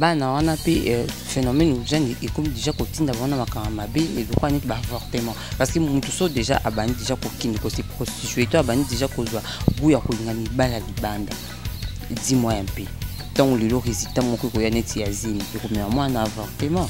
bana wana mpe euh, phénomène ojani ekomi déjà kotinda wana makambo mabe eloko neti baavortement parce que motu so déjà abandi déjà kokende kose prostitue to abandi déjà kozwa gout ya kolinga mibala libanda dis moi mpe ntango lelo résultat moko ekoya neti ya zemi ekomema mwana avortement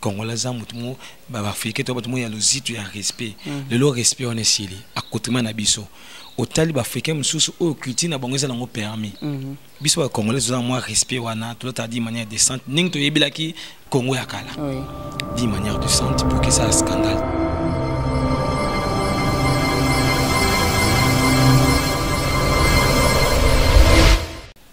congolais aza motu mo baafrike to bato mo ya lozitu ya respect mm. lelo respect wana esili akotrima na biso otali baafrikain mosusu oyo culture na bango eza nango permis mm -hmm. biso bacongolais tozala mwa respect wana tolotala di manière decente ndenge toyebelaki congo ya kala oui. di manière decente pour que ça scandale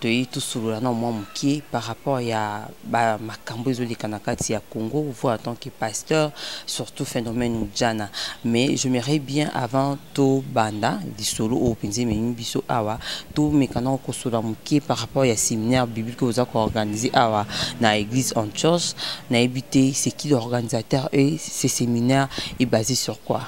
toyei tosolola nao mwa moke par rapport ya makambo ezoleka na kati ya congo vous en tant que pasteur surtout phénomène ujana mais je merai bien avant tobanda lisolo oyo mpenza ememi biso awa tomeka nao kosolola moke par rapport ya séminaire biblique oza koorganize awa na église en church nayebi te c'est qui l'organisateur et ce séminaire est basé sur quoi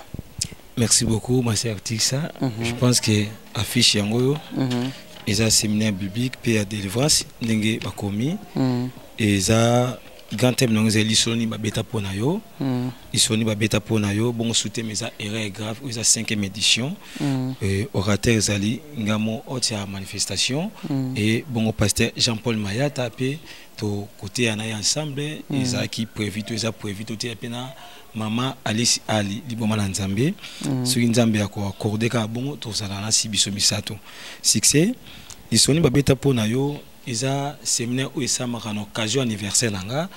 Merci beaucoup, ma sœur Tixa. Mm -hmm. Je pense que affiche yango mm -hmm. eza séminaire biblique pe ya délivrance ndenge bakomi mm -hmm. eza grand thème nango ezali lisoni babeta mpo na yo mm. lisoni babeta mpo na yo bongo suteme eza erreur grave oyo eza 5e édition mm. euh, orateur ezali ngamo ote ya manifestation mm. e bongo pasteur jean paul mayata mpe tokoteya na ye ensemble ezalaki prévu to eza prévu toteya mpe na mama alice ali liboma na nzambe mm. soki nzambe ya koakorde kaka bongo tozala na si biso misato succès lisoni babeta mpo na yo eza seminaire oyo esamaka na occasion anniversaire na nga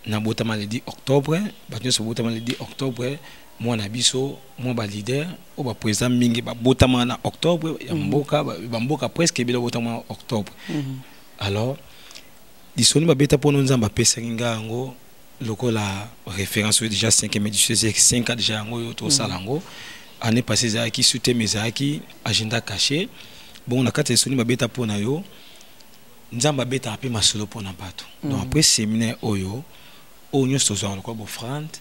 nabotama le 10 octobre bato nyonso babotama le 10 octobre mwana na biso mwa balider oyo baprésident mingi babotama na octobre ya mhm. mboka bamboka presque ebele babotama na octobre mhm. alors lisoni babeta mpo no nzambe apesaki nga yango lokola référence oyo déjà 5e édition ezalaki 5 ans déjà yango oyo tosala yango mm. année passée ezalaki suteme ezalaki agenda caché bongo na kati ya lisuni babeta mpo na yo nzambe abetaka mpe masolo mpo na bato mm. donc après séminaire oyo oyo nyonso tozwaka lokola bofrande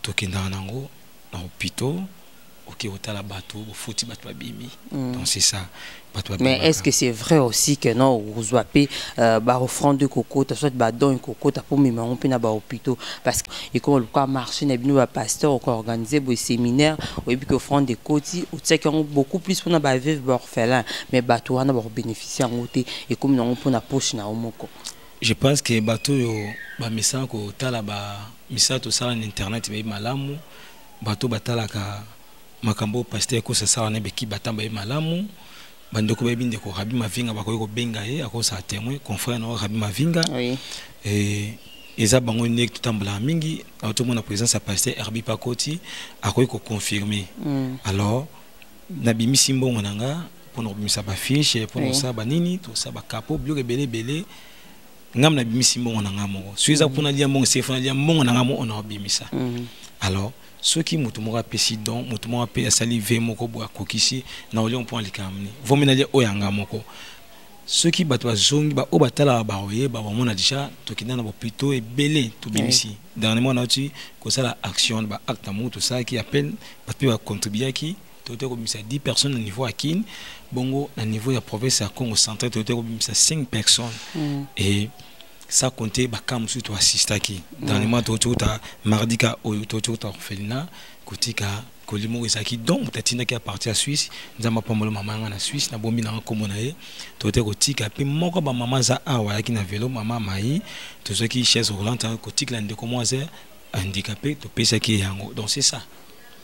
tokendaka nango na hopitaux ok otala bato bofuti bato babimi mm. donc c'est ça bato mais est ce que c'est vrai aussi que non okozwa mpe euh, baofrande ekokota soit badon ekokota mpo mema yango mpe na bahôpitaux parce que ekoma lokola marché na bino bapasteur okoorganize boye séminaire oyebi ke offrande ekoti otiaki yango beaucoup plus mpona baveuve baorphelin mais bato wana bakobénéficie yango te ekomi nango mpo na poche na yo moko je pense que bato oyo bamesana kotala bamisala tosala na internet bayebi malamu bato batalaka makambo oyo pasteur kosa asala na beki batamba ye malamu bandeko bayebi ndeko rabi mavinga bakoki kobenga ye akosala témoin confrère na rabi mavinga oui. e, eza bango nde totambolaka mingi tomona présence ya pasteur herbi pakoti akoki koconfirme mm. alors nabimisi mbongo na nga mpo na kobimisa bafiche mpo na kosala banini tosala bakapo biloko ebele ebele ngam na bimisi mbongo na nga moko soki eza kuna lia mbongo sefo na lia mbongo na nga moko ona obimisa mm. alors soki moto moko apesi don moto moko ape asali ve moko boye akokisi na olio mpo alikambo nini vomi nalia oyo yanga moko soki bato bazongi baoyo batalaka bakoyeba bamona deja tokenda na bopito ebele tobimisi oui. dernièrement nauti kosala action na baacte na moko tosalaki appel bato mpe bacontribuaki toyotaki kobimisa 10 personnes na niveau ya kin bongo na niveau ya province ya congo central toyotaki kobimisa 5 personnes mm. et sans compter bakaa mosusu toasistaki mm. dernièrement toyoti kota mardi ka oyo toyoti kota orphelina kotika koli moko ezalaki don moto atindaki ya parti ya suisse nzambe apambola mama yanga na suisse nabombi nanga nkombo na ye toyotaki kotika mpe moko bamama aza awa ayaki na velo mama mai tozwaki chaise roulante kotikela ndeko moko aza handicapé topesaki ye yango donc c'est ça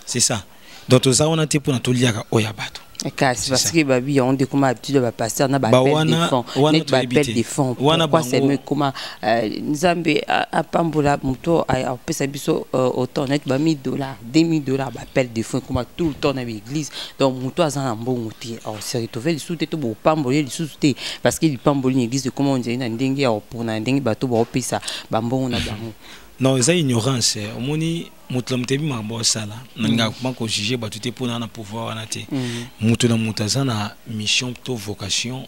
c'est ça donc toza wana te mpona toliaka oyo ya bato kasi parce que babi yango nde ekoma habitude ya bapasteur na bapel de fond pourquoi seulement ekoma euh, nzambe apambola moto apesa biso euh, autant neti ba 1000 dollars 2000 dollars bapel de fond ekoma tout le temps na baeglise donc moto aza na mbongo te se retrouve lisusu te to bopamboli ye lisusu te parce que lipamboli na église ekoma onzali na ndenge ya opona na ndenge bato baopesa bambongo na bango non eza ignorance omoni moto na moto ayebi makambo osala nalingaka koma kojuge bato te mpona na pouvoir wana te mhm. moto na moto aza na mission to vocation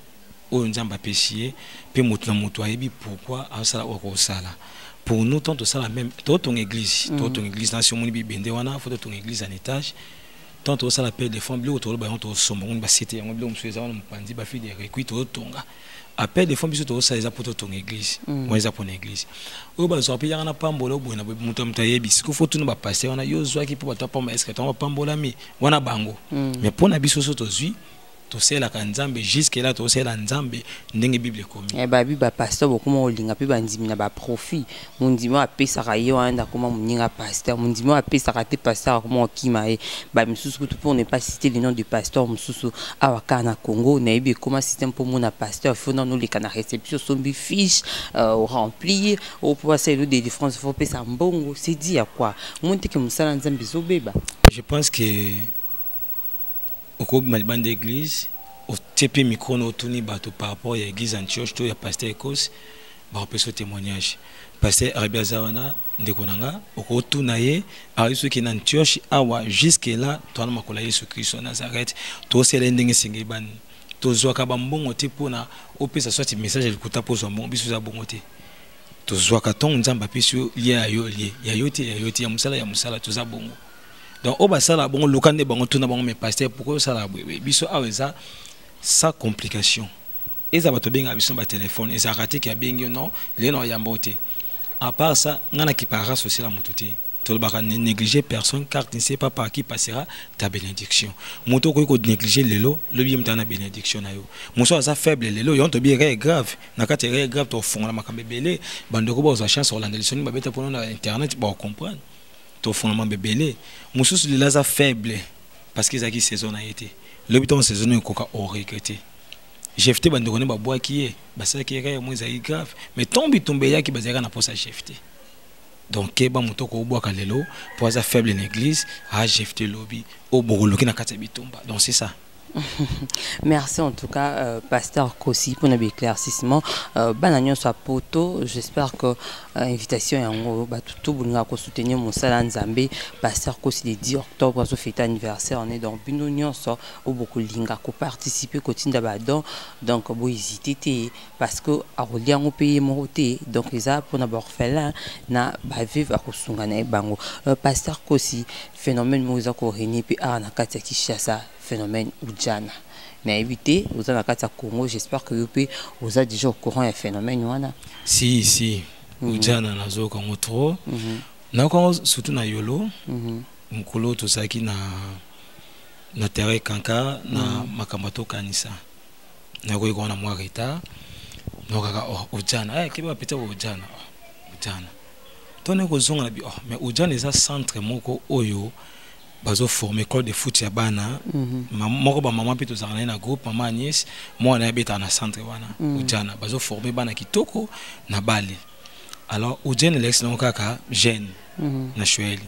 oyo nzambe apesi ye mpe moto na moto ayebi pourkui asala oyo akosala pour nous tant tosala meme totonga église mhm. totonga église nasi omoni bibende wana fo totonga église en étage tant tosala mpe defend biloko toloba yango tosomba ngoni basete yango biloko mosusu eza wana mopanzi bafide requi totonga appel de fond biso tokosala eza mpo totonga église mm. wana eza mpona église oyo bazwaka mpe yanga na pambola oboye na moto ya moto ayebi siko fo tuna bapaster wana yo ozwaki mpo bato apamba eske tango bapambolami wana bango mm. mais mpo na biso so tozwi tosalelaka nzambe juske la tosalela nzambe ndenge bible ekomi eh, babi bapaster bokoma kolinga mpe bandimi na baprofit mondimi oyo apesaka ye wana nde akoma moninga pasteur mondimi oyo apesaka te pasteur akoma kokima ye bamisusu kutu pour ne pas citer le nom de pasteur mosusu awa kaka na congo nayebi ekoma système mpo omona pasteur fo nano oleka na réception osombi fiche euh, oremplir oyo mpo basala elo délivrance fo opesa mbongo c'est dit ya quoi omoni teke mosala nzambe ezobeba je pense que okobima libanda église otie mpe micro na otuni bato par rapport ya église antioche to ya pasteur ecos bakopesa yo témoignage pasteur arabi aza wana ndeko na nga okotuna ye ayebi soki na antioche awa jusque là towana makolo ya yesu kristo ya nazareth tosela ye ndenge esengeli bani tozwaka bambongo te mpo na opesa swati message ya lokuta mpo ozwa mbongo biso eza bongo te tozwaka ntongo nzambe apesi yo lia ya yo lie ya yo te ya yo te ya mosala ya mosala toza bongo donc oyo basalaka bongo luka nde bango tuna bango me paster pourkoi osalaka boye biso awa eza sans complication eza bato benga biso ba telefone ezalaka te ke abengi yo non lelo na oyamba yo te à part ça ngai na kiparaka sociale ya motu te tolobaka ne néglige personne car tu ne sais pas par qui passera ta bénédiction moto okoki konéglige lelo lobi ye moto na bénédiction na yo mosu aza faible lelo yango tobi erreur grave na kati ya erreur grave tofongola makambo ebele bandeko bakozwa chance kolanda lisoni babeta mpono na internet baocomprendre tofongola mambo ebele mosusu lelo aza faible parce que ezalaki saison na ye te lobi ntango saison ekoka oregrete jefte bandeko ne babwaki ye basalaki ye kaka mweza ye grave mais ntango bitumba eyaki bazalaka na mposa jefte donc keba moto okobwaka lelo mpo aza faible na église a ah, jefte lobi oyo bokoluki na kati ya bitumba donc c'est ça Merci en tout cas, euh, Pasteur Kossi, pour nos éclaircissements. Euh, Bananion soit poteau, j'espère que euh, invitation est en gros, bah, tout, tout, nous avons soutenu mon salan Zambé, Pasteur Kossi, le 10 octobre, à fête anniversaire, on est dans Bino Nyon, oyo bokolinga koparticipe kotinda badon donc bohésite te parce que akolia yango mpe ye moko te donc eza mpona baorphelin na baveve akosunga na ye bango euh, pasteur kosi phénomène moko eza korenie mpe awa na kati ya kinshasa phénomène ujana nayebi te oza na kati ya congo j'espère que yo mpe oza déjà au courant ya phénomène wana si si mhm. ujana nazoyoka yango trop mhm. nayoka yango surtout na yolo mhm. mokolo tozalaki na na terrain kanka na mm. makambo atokanisa nakoki kona mwa retard donc kaka oh, ojana eh, keba pete ojana oh, ojana to ne kozonga na bi oh, mais ojana eza centre moko oyo bazoforme école de foot ya bana mm -hmm. moko bamama mpe tozalaka na ye na groupe mama agnès mwana ye abetaka na centre wana mm -hmm. ojana bazoforme bana kitoko na bale alors ojana elekisi nango kaka jeune mm -hmm. na shueli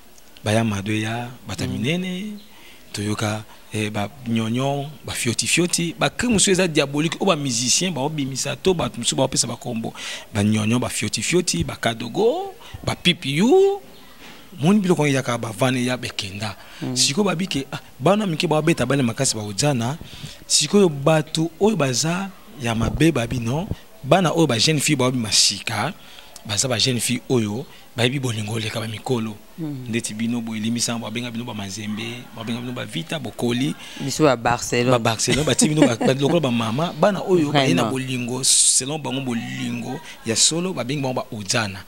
baya mado eya bata mm. minene toyoka eh, ba nyonyo ba fioti fioti ba crime mosusu eza diabolique oyo ba musicien baobimisa to bato mosusu baopesa bakombo ba nyonyo ba fioti fioti ba kadogo ba pipiu moni biloko yango eyaka bavana eya bekenda mm. sikoyo babi ke ah, bana mike baobeta bale makasi baojana sikoyo bato oyo baza ya mabe babi non bana oyo ba jeune fille baobima sika baza ba jeune fille oyo bayebi bolingo oleka bamikolo hmm. ndeti bino boye limbisanga babenga bino bamazembe babenga bino bavita bokoli biso babarcelone babarcelone batii bino lokola bamama bana oyo baye na bolingo selon bango bolingo ya solo babengi bango baojana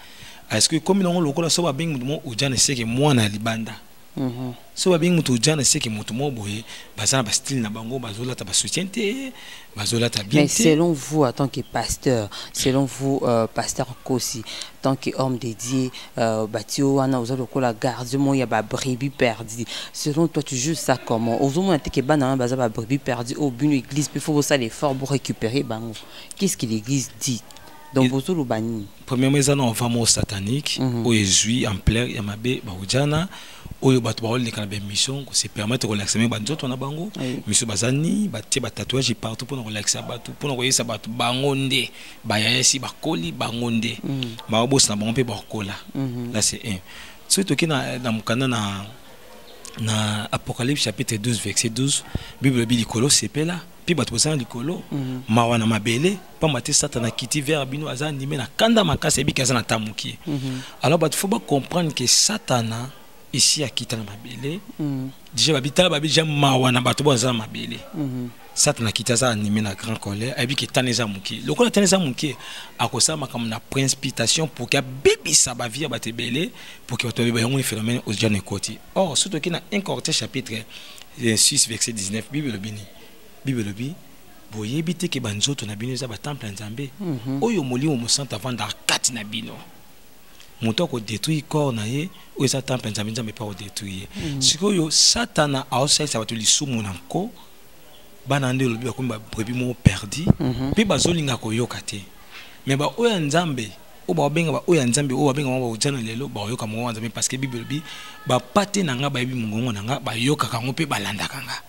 parceke ekomi nango lokola so babengi moto mo ojana eseke mwana ya libanda Mhm. so babengi moto ojana seke moto moko boye baza na bastyle na bango bazolata basoutien te bazolata bien mais selon vous en tant que pasteur selon vous euh, pasteur kosi tant que homme dédié euh, bati yo wana oza lokola gardien moko ya babrebis perdu selon toi tu juge ça comment ozomona te ke bana wana baza babrebis perdu oyo oh, bino église mpe fo bosala effort borécupérer bango qu'est ce que l'église dit donc bozoloba nini premièrement eza na envoi moko satanique mm -hmm. oyo ezwi ampleur ya mabe baojana oyo bato baoleka na baémission kosepermete kolakisa ndenge banzoto na bango miso bazani batie batatouage partout mpona kolakisa bato mpona koyebisa bato bango nde bayayasi bakoli bango nde mm. baobosana bango mpe bakokola mm-hmm. la c'est un soki toki na mokanda na na apocalypse chapitre 12 verset 12 bible elobi likolo sepela mpe bato boza na likolo mhm. mawa na mabele mpamba te satana kiti vers bino aza andime na kanda makasi ayebiki aza na ta mokie mhm. alors bato fo bacomprendre ke satana esi akita na mabele mhm. deja babitala babi deja mawa na bato bo aza na mabele satana kiti aza anime na grand colère ayebi ke tana eza moke lokola tana eza moke akosala makambo na principitation pour ke abebisa bavie ya bato ebele pour ke bato babeba yango ni phénomène ocean ekoti or soki toki na 1 corinthiens chapitre 6 verset 19 bible elobi nini bible elobi boyebi te ke banzoto na bino eza batemple ya nzambe mm -hmm. oyo molimo mosanto avandaka kati na bino moto akodetruire corps na ye oyo eza temple ya nzambe nzambe mpe akodetruire ye mm -hmm. sikoyo satana aosalisa bato lisumu na nko bana nde olobi bakomi babrebi moko perdi mpe mm -hmm. bazolinga koyoka te me baoyo ya nzambe oyo bakobenga baoyo ya nzambe oyo babengama baojana lelo bakoyoka mongongo ya nzambe parceke bible elobi bapate na ngai bayebi mongongo na ngai bayokaka yango mpe balandaka ngai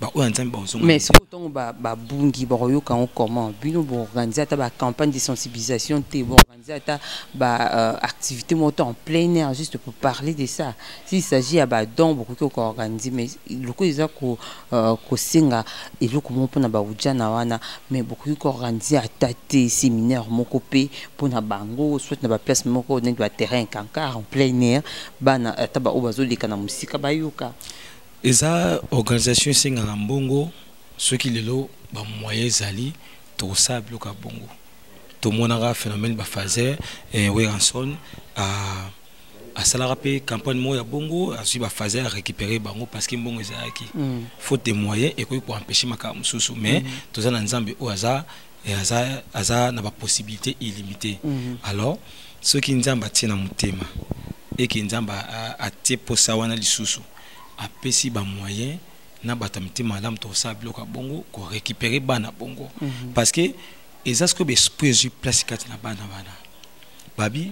baoyo ya nzambe bakozongmais soki ntongo babungi bakoyoka yango comment bino boorganize ata bacampagne de sensibilisation te boorganize ata baactivité euh, moko to en plein air juste pour parler de ça s'il s'agit ya badon bokoki koorganize mais lokola eza ko Euh, kosenga eloko moko mpona baujana wana me bokoki koorganize ata te seminaire moko mpe mpona bango soit na baplace moko neti baterrain cancar en plein air bana ata baoyo bazoleka na mosika bayoka eza organisation esengaka mbongo soki lelo bamoyen ezali tokosala biloko ya bongo tomonaka phénomène bafaser eh, weranson ah, asalaka mpe campagne moko ya bongo azwi bafaze ya récupérer bango parce que mbongo ezalaki mm. faute de moyen ekoki koempêche makambo mosusu mais mm. toza na nzambe oyo aza, eh, aza, aza na bapossibilité illimité mm -hmm. alors soki nzambe atie na motema eke nzambe atie mposa wana lisusu apesi bamoyen na bato ya mitema malamu tokosala biloko ya bongo korécupérer bana bongo mm -hmm. parce que eza sikoyo baesprit ezwi place kati na bana wana babi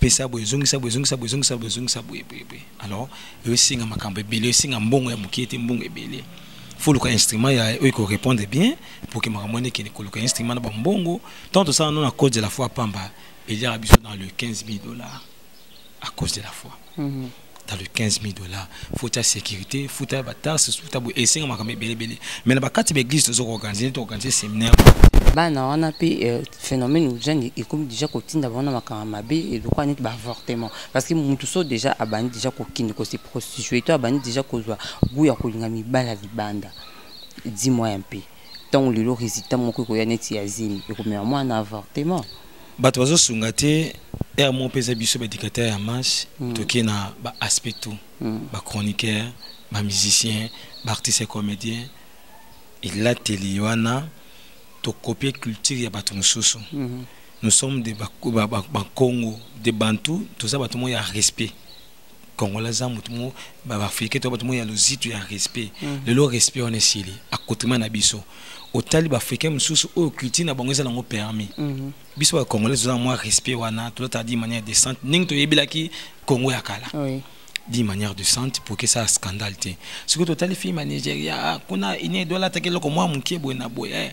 pesa boye zongisa boye zongisa boye zongisa boye zongisa boye boye boye alors oyo esenga makambo ebele esenga mbongo ya moke te mbongo ebele faut luka instrument ya oyo ekorépondre bien pour que makambo wana ekende koluka instrument na bambongo ntango tosala no na cause de la foi pamba eliaka biso dans le 15 000 dollars à cause de la foi mm -hmm. dans le 15 000 dollars futa sécurité futa bataxe futa boye esenga makambo ebelebele mais na bakati baeglise toza koorganize toorganize séminaire bana wana mpe euh, phénomène ojani ekomi déjà kotinda bango na makambo mabe elokola neti baavortement parce que motu so déjà abandi déjà kokende kose prostitue to abandi déjà kozwa gout ya kolinga mibala libanda dis moi un peu ntango lelo résultat moko ekoya neti ya zemi ekomema mwana na avortement bato bazosunga te heure moko mpe eza biso badictateur ya masse mm. toke na baaspect tout mm. bachroniqueur bamusicien baartiste ya comédien elateli wana tokopie culture ya bato mosusu mm -hmm. nous sommes de bakongo ba, ba, ba de bantu toza bato moko ya respect congolais aza motu mo baafrike to bato mo ya lozitu ya respect mm. lelo respect wana esili akotema na biso otali baafrikain mosusu oyo culture na bango eza nango permis mm -hmm. biso bacongolais tozala mwa respect wana tolotala di manière decente ndenge toyebelaki congo ya kala oui. di manière decente pour que ça scandale te soki totali filme ya nigeria ah, kuna ine edo alataki eloko mwa moke boye na boye eh,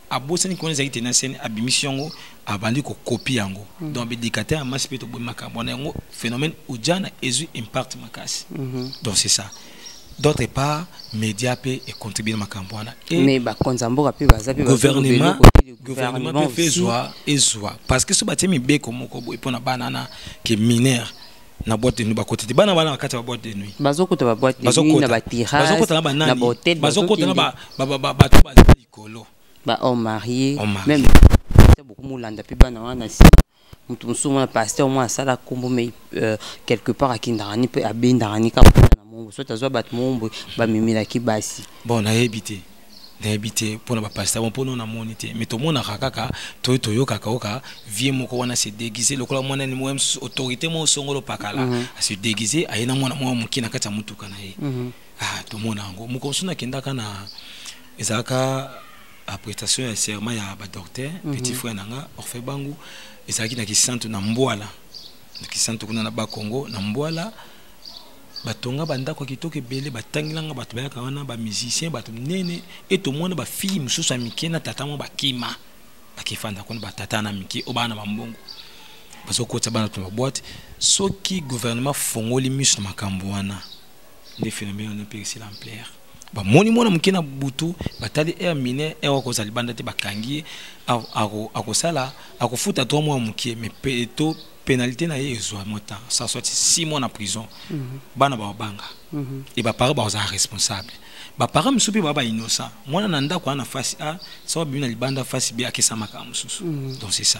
abosani kuna ezalaki te na sene abimisi yango abandi kokopi yango mm. donc bedikate ya masi mpe toboyi makambo wana yango phénomène ujana ezwi impact makasi mm -hmm. donc c'est ça d'autre part média mpe econtribue na makambo wana mais bakonzi ya mboka mpe baza mpe gouvernement gouvernement mpe ezwa ezwa parce que so batie mibeko moko boye mpo na bana na ke mineur na boîte de nuit bakota te bana bana bakati ba boîte de nuit bazokota ba boîte de nuit na ba terrasse na ba hotel bazokota na ba ba ba ba ba likolo ba homme marié même beaucoup molanda mpe bana wana si moto mosusu mwana pasteur mwana asala nkombo mai euh, quelque part akendaka ni mpe abendaka ni kaka na mongo soki azwa bato moombo bamemelaki basi bon nayebi te nayebi te mpo na bapasita bon mpo no namoni te mai tomonaka kaka toyo toyokaka oka vie moko wana se déguise lokola mwana ni moya mosusu autorité moko songolo pakala mm -hmm. ase déguise aye na mwana moko moke na kati ya motuka na ye mm -hmm. ah, tomona yango mokolo mosusu nakendaka na ezalaka prestation ya serment ya ba docteur mm -hmm. petit frère na nga orphe bangu ezalaki na kisantu na mbwala na kisantu kuna na bakongo na mbwala batonga bandako ya kitoko ebele batangilanga bato bayaka wana bamusicien bato minene e tomona bafille mosusu ya mike na tata mwa bakima bakefanda kuna batata na mike oyo baa na bambongo bazokotisa bana to baboite soki gouvernement afongoli miso na makambo wana nde phénomène wana mpe esila ampleur bamoni mwana moke na butu batali aire mine aire akozala libanda te bakangi ye akosala akofuta to mwa moke mais to pénalité na ye ezwa mwa temps ça soit six mois na prison mhm. bana babanga mhm. e baparent bakozala responsable baparent mosusu mpe baa bainnocent mwana na ndako wana na face a soki abimi na libanda face b akesamaka mosusu mhm. donc c'est ça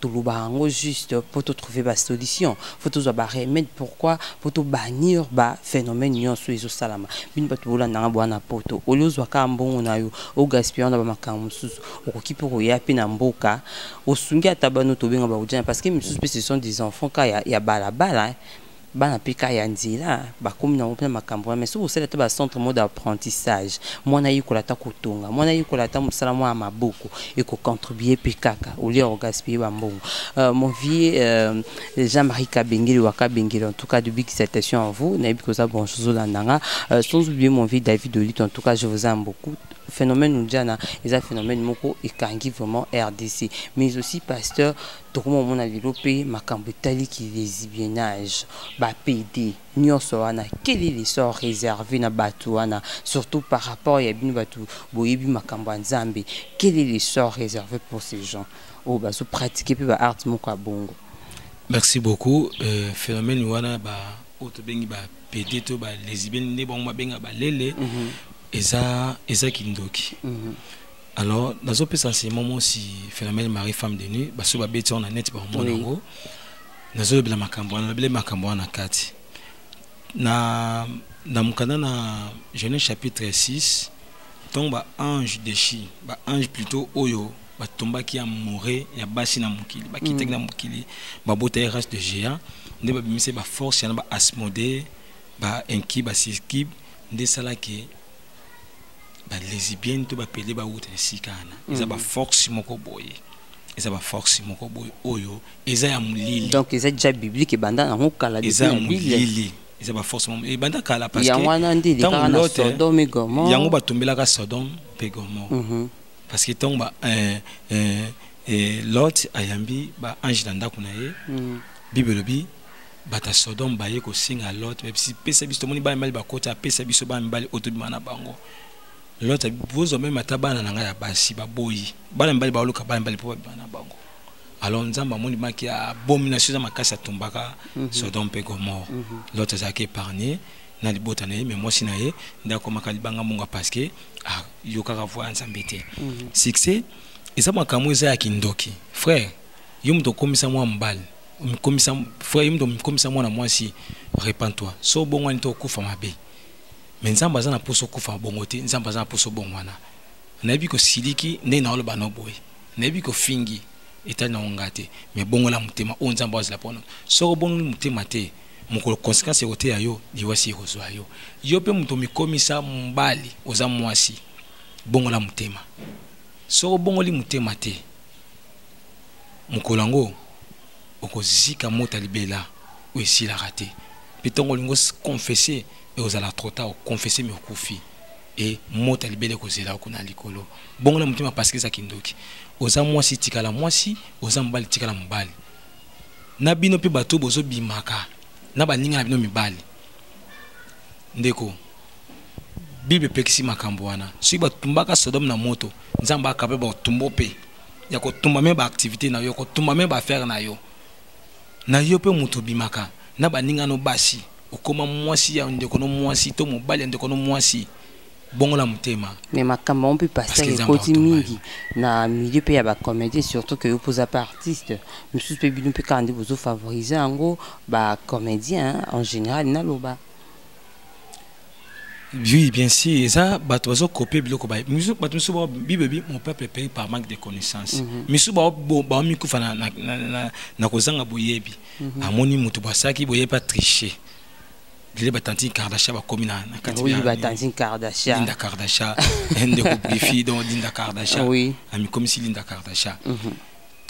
toloba yango juste mpo to trouver ba solution fo tozwa ba remède pourquoi mpo to bannir ba phénomène nyonso oyo ezosalama bino bato bolanda nga bwana poto olie ozwa kaka mbongo na yo ogaspia na bamakambo mosusu okoki mpe koya mpe na mboka osungi ata bano tobenga baudjana parce que misusu mpe ce sont des enfants ka ya, ya balabala bana pe ka ya nzela bakomi na mopena makambo wana mais soki osali ata ba centre mode apprentissage mwana ayekola ata kotonga mwana ayekola ata mosala mwa ya maboko ekocontribue pe kaka olie ya kogaspille bambongo euh, mon vieux euh, jean marie kabengele wa kabengele en tout cas de big salutation à vous nayebi koza branche ozolanda nga euh, sans oublier mon vieux david olito en tout cas je vous aime beaucoup phénomène ujana eza phénomène moko ekangi vraiment rdc mais aussi pasteur tokoma komona lelo mpe makambo etali ki desibiennage ba pede nyonso wana quelle est l'essor reserve na bato wana surtout par rapport ya bino bato boyebi makambo ya nzambe quelle est l'essor reserve pour ces gens oyo bazo pratique mpe ba arte moko ya bongo merci beaucoup euh, phénomène wana ba oyo tobengi ba pede to ba lesibienne nde bango babenga balele mm -hmm. eza eza kindoki mm -hmm. alors nazopesa nsima mosi phénomène marie femme de nuit basoki babeti yango na neti bakomona yango oui. nazolobela makambo wana nalobele makambo wana na kati na, na mokanda na genèse chapitre 6 ntongo baange dechi baange plutôt oyo batombaki ya more ya basi na mokili bakitaki mm. na mokili babota ya race de géant nde babimisaki baforce yana baasmode bainki basiskib nde esalaki ba lesbienne to bapede bawuta esika wana eza mm. baforce moko boye eza baforce moko boye oyo eza ya molili donc eza déjà biblique ebanda yango kala eza ya molili eza baforce moko ebanda kala parceyango wana nde elekaka na sodome gomor yango batumbelaka sodome mpe gomor mhm. parce que ntango ba euh, euh, euh, lot ayambi baange na ndako na ye mhm. bible elobi bato ya sodome baye kosenga lot babisi pesa biso tomoni bana mibali bakota apesa biso bana mibali oyo tobima na bango lot bozwa meme ata bana na ngai ya basi baboyi bana mibali baoluka bana mibali mpo babima na bango alors nzambe amoni maki abomination eza makasi atumbaka mhm. sodome mpe gomore mhm. lot azalaki épargne na libota na ye me mwasi na ye nde akomaka libanga monga parce que ayokaka ah, voi ya nzambe te mhm. succès eza makambo eza ya kindoki frère yo moto okomisa mwa mobali omikomisa frère yo moto omikomisa mwana mwasi repent toi so obongwani to okufa mabe me nzambe aza na mposa okufa bongo te nzambe aza na mposa obongwana nayebi kosiliki ndenge naoloba no boye nayebi kofingi etali nango ngai te me bongola motema oyo nzambe azala mpono soko obongoli motema te mokolo konsekansi ekoteya yo liwasi ekozwa yo yo mpe moto omikomisa mobali oza mwasi bongola motema soko obongoli motema te mokolo yango okozika mota libela oyo esilaka te mpe ntongo olingi okonfese ekozala trop tard okonfese mi okufi e mota libela ekozela yo kuna likolo bongo na motema pasike eza kindoki oza mwasi tikala mwasi oza mobali tikala mobali na bino mpe bato bozobimaka na baninga na bino mibali ndeko bible epekisi makambo wana soki batumbaka sodome na moto nzambe akaba batumbo mpe ya kotumba me baactivité na yo kotumba me baaffaire na yo na yo mpe moto obimaka na baninga no basi okoma mwasi ya ndeko no mwasi to mobali ya ndeko no mwasi bongola motema mais makambo yango mpe pasteur ekoti mingi na milieu mpe ya bacomédien surtout ke yo mpe oza mpe artiste mosusu mpe bino mpe kaka nde bozofavorize yango bacomédien en général naloba Oui, bien sûr. Et ça, bah, tu vas copier le cobaye. Nous, bah, tu sais, Bible, mon peuple est payé par manque de connaissances. Mais si bah, bon, bah, mi kufa na na na na na kozanga boyebi. Mhm. Amoni mutu bah, ça qui boye pas tricher. Lele ba tantine Kardashian ba komi na na kati. Oui, ba tantine Kardashian. Linda Kardashian, ende ko brifi donc Linda Kardashian. Oui. Ami comme si Linda Kardashian. Mhm.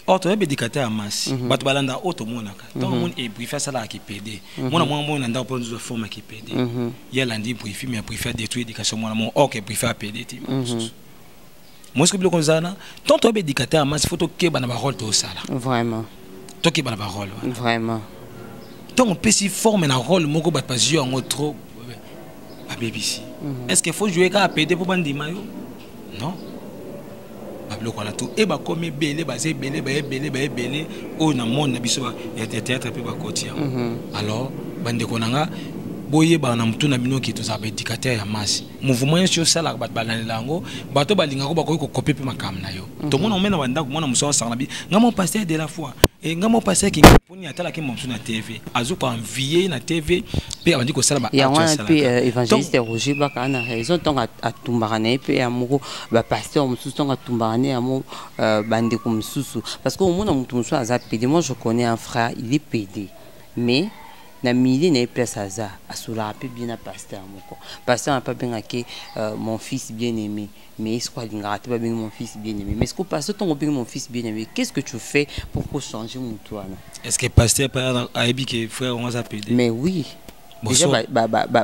or toyebi edikateur ya masi mhm. bato balandaka oyo tomonaka mhm. ntango omoni ebrifi eh, asalaka kipede mhm. mwana mwana mwana na ndako mpo nzwa forme ya kipede ye alandi brifi mais brifi adétruit éducation mwana moko or ke brifi apede te mosusu mosusu biloko ozana ntango toyebi edikateur ya masi fo tokeba na barole tosala vraiment tokeba na barole wana vraiment ntango opesi forme na role moko bato bazwi yango trop babebisi est ce que fo joue kaka pede mpo bandima yo non babiloko wana tu e bakomi ebele baza ebele baye ebele baye ebele oyo na monde na biso ya théâtre mpe bakoti yango mhm. alors bandeko na nga boyebaka na motu na bino ke tozalaka baédicateur ya masse mouvement nyonso osalaka bato balandela yango bato balingako bakoki kokope mpe makambo na yo mhm. tomona omena bandako mwana mosala asangana bi nga mo pasteur de la foi e nga mo pasteur kinga Boni atalaki mosusu na TV azo ko envier na TV pe abandi kosala ba ya wana pe euh, évangéliste ya Roger Baka na raison ntango atumbaka na ye pe ya moko ba pasteur mosusu ntango atumbaka ne ya mo euh, bandeko mosusu parce que omona moto mosusu aza pede moi je connais un frère il est pede mais na milieu na ye place aza asolaka pe bien na pasteur moko pasteur na pe abengaki euh, mon fils bien aimé mais est-ce qu'on alingaka te babengi mon fils bien aimé mais est-ce que pasteur ntongo obengi mon fils bien aimé qu'est-ce que tu fais pour kochanger motu wana est ce que pasteur ayebi ke frère yango aza pede mais oui déjà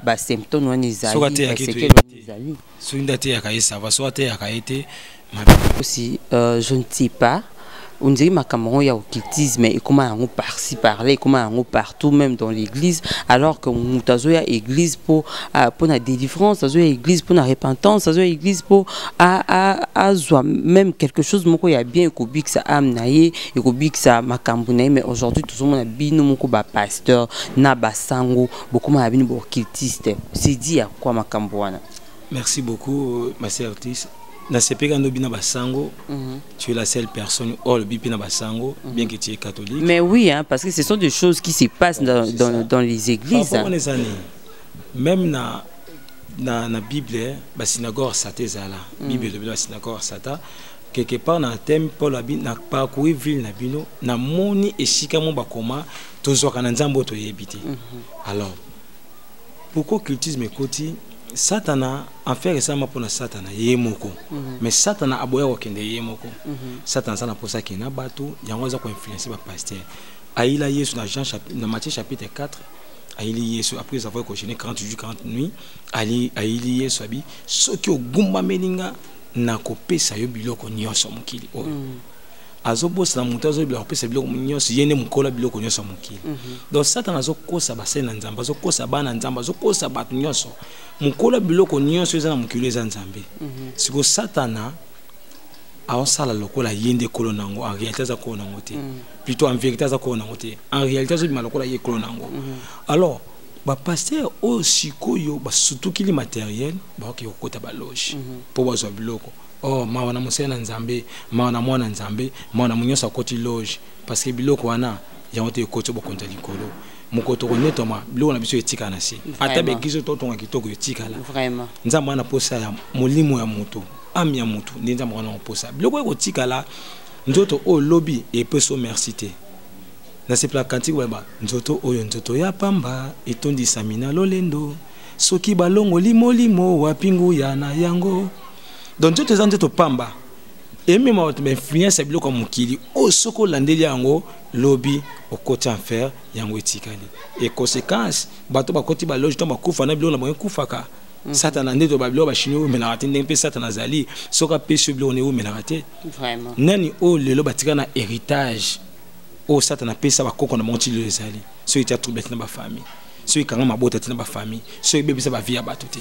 basymptôme wana ezalisekele wana ezali soki nde ateyaka ye sava soki ateyaka ye te aussi euh, je ne sais pas ondiri makambo yango ya occultisme ekoma yango parci parla ekoma yango partout même dans l'église alors que moto azoya église mpo ah, mpo na délivrance azoya église mpo na repentance azoya église mpo azwa même quelque chose moko ya bien ekobikisa ame na ye ekobikisa makambo na ye mais aujourd'hui tozomona bino moko bapasteur na basango bokoma na bino baoccultiste c'est dit ya kwa makambo wana merci beaucoup ma sœur tis nasepeka ndobi na basango Mhm. Tu es la seule personne, oh, le bipina basango, mhm. bien que tu es catholique. Mais oui, hein, parce que ce sont des choses qui se passent dans, dans, dans, les églises. Hein. Les années, même dans na, na Bible, hein, ba synagogue sata ezala. Mhm. Bible elobi na synagogue sata. Quelque part na thème Paul abi na parcouru ville na bino na moni esika mo bakoma tozwaka na nzambo toyebi te. Alors pourquoi cultisme ekoti satana enfer esalama mpo na satana ye moko mm -hmm. mais satana aboya kokende ye moko mm -hmm. satana aza na mposa akende na bato yango aza koinfluence bapaster ayila yesu na jean na matthieu chapitre 4 ayili yesu après avoir cogene 40 jours 40 nuit ali ayili yesu abi soki ogumbameli nga nakopesa yo biloko nyonso mokili oyo mm. azobosana moto azobila kopesa biloko nyonso ye nde mokola biloko nyonso ya mokili mm -hmm. donc satana azokosa basali na nzambe azokosa bana nzambe azokosa bato nyonso mokola biloko nyonso eza na mokili eza nzambe mm -hmm. siko satana aosala lokola ye nde kolo na yango en réalité aza kolo na yango te mm -hmm. plutôt en vérité aza kolo na yango te en réalité azobima lokola ye kolo na yango mm -hmm. alors bapaster oyo sikoyo basutukili materiel baoki kokota baloge mpo mm -hmm. bazwa biloko Oh mawa na mosali na Nzambe, mawa na mwana Nzambe, mawa na monyonso akoti loge, parce que biloko wana yango te ekoti bokonzi ya likolo. Mokolo tokonetwama biloko na biso etikala na se, ata bekizo totonga kitoko etikala. Nzambe wana posa ya molimo ya moto, ame ya moto nde Nzambe wana posa biloko ekotikala. Nzoto oyo lobi epeso merci te nasepela kantiki bayeba nzoto oyo nzoto ya pamba etondisami na lolendo soki balongoli molimo wapi nguya na yango donc nzoto eza nzoto pamba emema bato bainfluence ya biloko ya mokili oyo soki olandeli yango lobi okoti enfer yango etikali e conséquence bato bakoti baloge ntango bakufa na biloko na bango ekufaka mhm. satana nde toba biloko bachini eumelaka te ndenge mpe satana azali soki apesi yo biloko na eumelaka te nani oyo lelo batika na héritage oyo satana apesa bakoko na bango ti lelo ezali soki etya trouble te na bafamille soki ekanga mabota te na bafamille soki ebebisa bavie ya bato te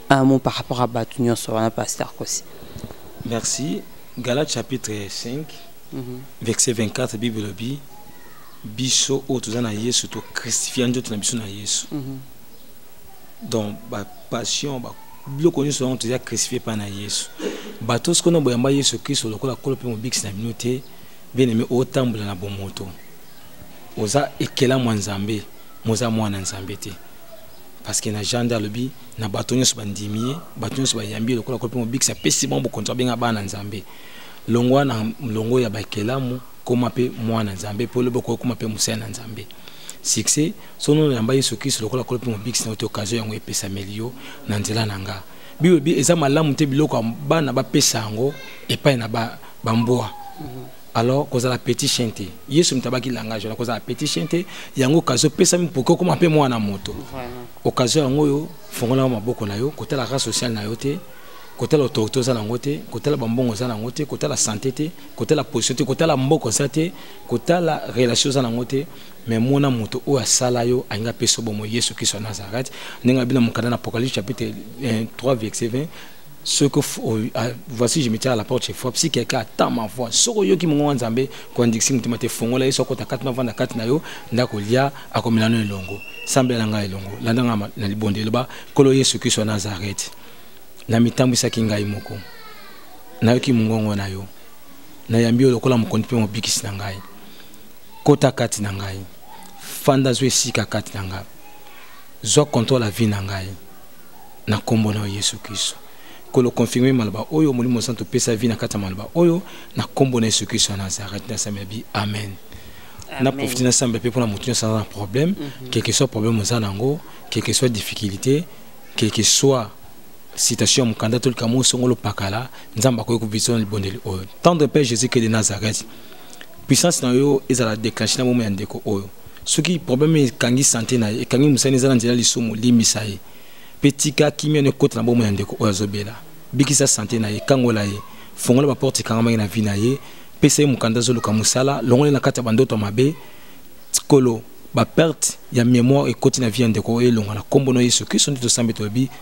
un mot par rapport à batu nyonso wana pasteur kosi merci gala chapitre 5 mm -hmm. verset 24 bible elobi biso oyo toza na yesu tocristifia nzoto na biso na yesu mm -hmm. donc bapassion biloko nyonso yango toza cristifie epai na yesu bato soki ono boyamba yesu kristo lokola kolo mpe mobikisi na bino te bieneme otambola na bomoto oza ekelamu ya nzambe moza mwana nzambe te parce que na Jean de alobi na bato nyonso bandimi ye bato nyonso bayambi ye lokola kopi mobikisi apesi bango bokonzi babenga bana nzambe longwa na longo ya bakelamu koma mpe mwana nzambe mpo lobi okoki koma mpe mosali na nzambe succès sono oyamba yesu kristo lokola kolo mpe mobikisi na yo te okazio yango epesameli yo na nzela na nga bible eza malamu te biloko bana bapesa yango epai na bambwa ba alors kozala petit chien te yesu moto abaki langage wana kozala petit chien te yango okazi opesami mpoki okoma mpe mwana moto okazi yango oyo fongolaka maboko na yo kotala race sociale na yo te kotala autorité oza nango te kotala bambongo oza nango te kotala santé te kotala position te kotala mboko oza te kotala relation oza nango te mais mona moto oyo asala yo alingi apesa bomo yesu kristo ya nazareth ndenge abi na mokanda na apocalypse chapitre 3 eh, verset 20 ce que ah, voici je me tiens à la porte chez fois si quelqu'un attend ma voix soko yoki mongo wa nzambe koandikisi motema te fongola yesu akota kati na vanda kati na yo nde akolia akomela no elongo sambela ngai elongo landa ngai na libondo eloba nkolo yesu kristo ya nazareti namitambwisaki ngai moko nayoki mongongo na yo nayambi yo lokola mokonzi mpe mobikisi na ngai kota kati na ngai fanda zwa esika kati na ngai zwa controle ya vie na ngai na nkombo na yesu kristo kolo confirme maloba oyo molimo santo pesa vi na kati ya maloba oyo na nkombo na yesu kristo ya nazareth nasambela bi amen na profite nasambela mpe mpona moto nyonso aza na problème mhm. quelque soit problème oza na yango quelque soit difficulté quelque soit citation ya mokanda to likambo osongolo pakala nzambe akoki kobisa na libondeli oyo tendre père jésus christ de nazareth puissance na yo ezala declenche na bomoi ya ndeko oyo soki problème ekangi sante na ye ekangi mosani eza na nzela lisumu limbisa ye mpe tika kimia na ekota na bomoi ya ndeko oyo azobela bikisa sante na ye kangola ye fongola baporte ekangamaki na vi na ye pesa ye mokanda azoluka mosala longole na kati ya bandoto ya mabe kolo baperte ya memoire ekoti na vi ya ndeko oyo elonga na nkombo na yesu kristo nde tosambi tolobi